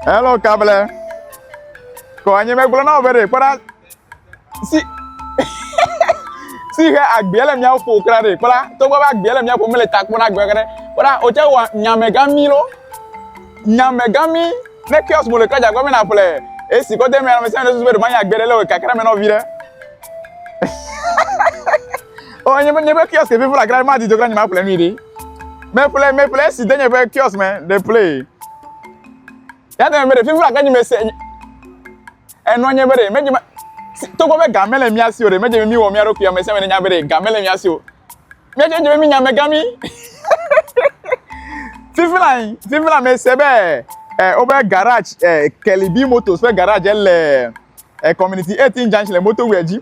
Hello, Kable. Kɔ anyi megblɔ na wò be ɖe kpɔ ɖa si si he agbea le mía ƒo kura ɖe kpɔ ɖa togbɔ be agbea le mía ƒo mele ta kpɔ na agbea kura ɖe kpɔ ɖa wòtse wɔ nyamegãmi lo nyamegãmi ne kiɔs mo le kura dza gbɔ be naƒle esi kɔ de mɛ na ame sia ame ɖe susu be ɖe manya agbea ɖe le wò kakra mɛ nɔ viɖe. o oh, nye nye be kiosk vivo la gra ma di dogra nye ma ƒle nui ɖi me ƒle me ƒle esi de nye be kiosk me de ƒle ya de me de vivo la gra nye me se enɔ nye be de me nye ma togbɔ be game le mía si o de me nye mi wɔ mía ɖokui ame sia me nya be de game le mía si o mía nye nye mi nya me gami vivo la vivo la me se be ɛ wobe garage ɛ kelibi motos ƒe garage le ɛ community eighteen junction le motorway dzi.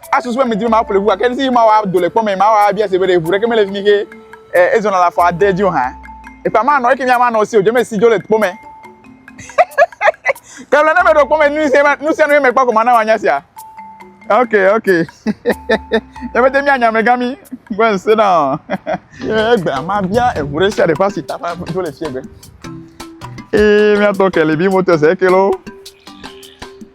Asusu be medi be maƒle ŋu gake esi mawɔ ado le kpɔ me mawɔ abia se be ɖe ŋu ɖeke mele fi mi ke eh, ezɔna le afɔ ade dzi o hã. Ekpa manɔ eke mi amanɔ si o dze me si dzo le kpɔ me. Ke le ne meɖo kpɔ me nu sia nu sia nu ye mekpɔ ko mana wanya sia. Ok ok. Ebe te mianya me gami go and sit down. Ye egbe ama bia eŋu ɖe sia ɖe ƒe asi ta ƒe dzo le fiegbe. Ee miatɔ ke le bi moto se ke lo.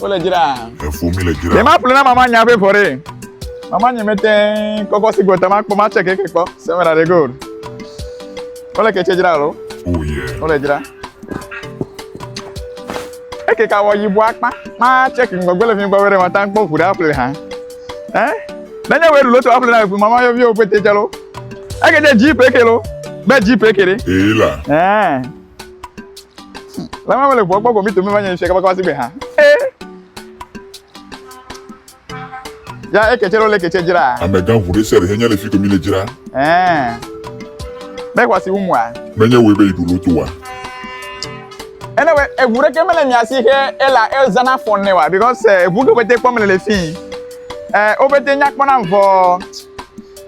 wole dzra. Efo mi le dzra. Yema ƒle na mama nya be vɔ ɖe. Mama nye mete kɔkɔ si gbɔta ma kpɔ ma tsɛ keke kpɔ. Sɛmɛra de gold. Wole kɛtsɛ dzra lo. Oh yeah. Wole dzra. Eke ka wɔ yibɔ akpa. Ma tsɛ keke gbɔgbɔ le fi gbɔ wɛrɛ ma ta kpɔ ʋu ɖe aƒle ha. Ɛ? Nenye wɛ ɖulo to aƒle na eƒe mama yɔviwo ƒete tsɛ lo. Eke de dzi peke lo. Be dzi peke ɖe. Ee la. Ɛ. Lama mele ʋua gbɔ gɔmi tome va nye ŋusua kaba kaba sigbe ha. Ya eketse ɖo le ketse dzra. Amegã ʋu ɖe sia ɖe henye le fi komi le dzra. Ɛɛ. Be ʋua si wu mua. Menye wòe be yi ɖu lo toa. Ene we eʋu ɖeke mele mia si he ela ezana fɔn ne wa because eʋu ke wobete kpɔm le le fi. Ɛɛ wobete nya kpɔ nam vɔ.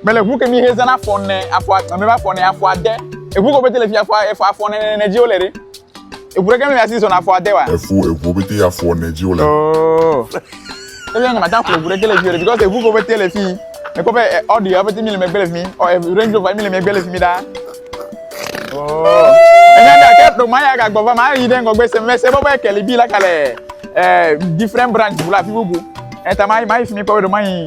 Mele ŋu ke mi he zana afɔ ne afɔ ame ƒe afɔ ne afɔ ade. Eŋu ko bete le fi afɔ efɔ afɔ ne ne ne dzi wole ɖe. Eŋu ɖe ke mi asi zɔna afɔ ade wa. Eŋu eŋu bete afɔ ne dzi wole. Oh. Ebi anga mata ƒo eŋu ɖe ke le fi ɖe because eŋu ko bete le fi. Ekɔ be ɔdi ya bete mi le megbe le fi. Ɔ Range Rover mi le megbe le fi mi da. Oh. Enya da ke ɖo ma ya ga gbɔ va ma yi ɖe ngɔgbe se me se bɔ be keli bi la kale eh different branch bula fi bubu. Eta ma ma yi fi mi kɔ be ɖo ma yi.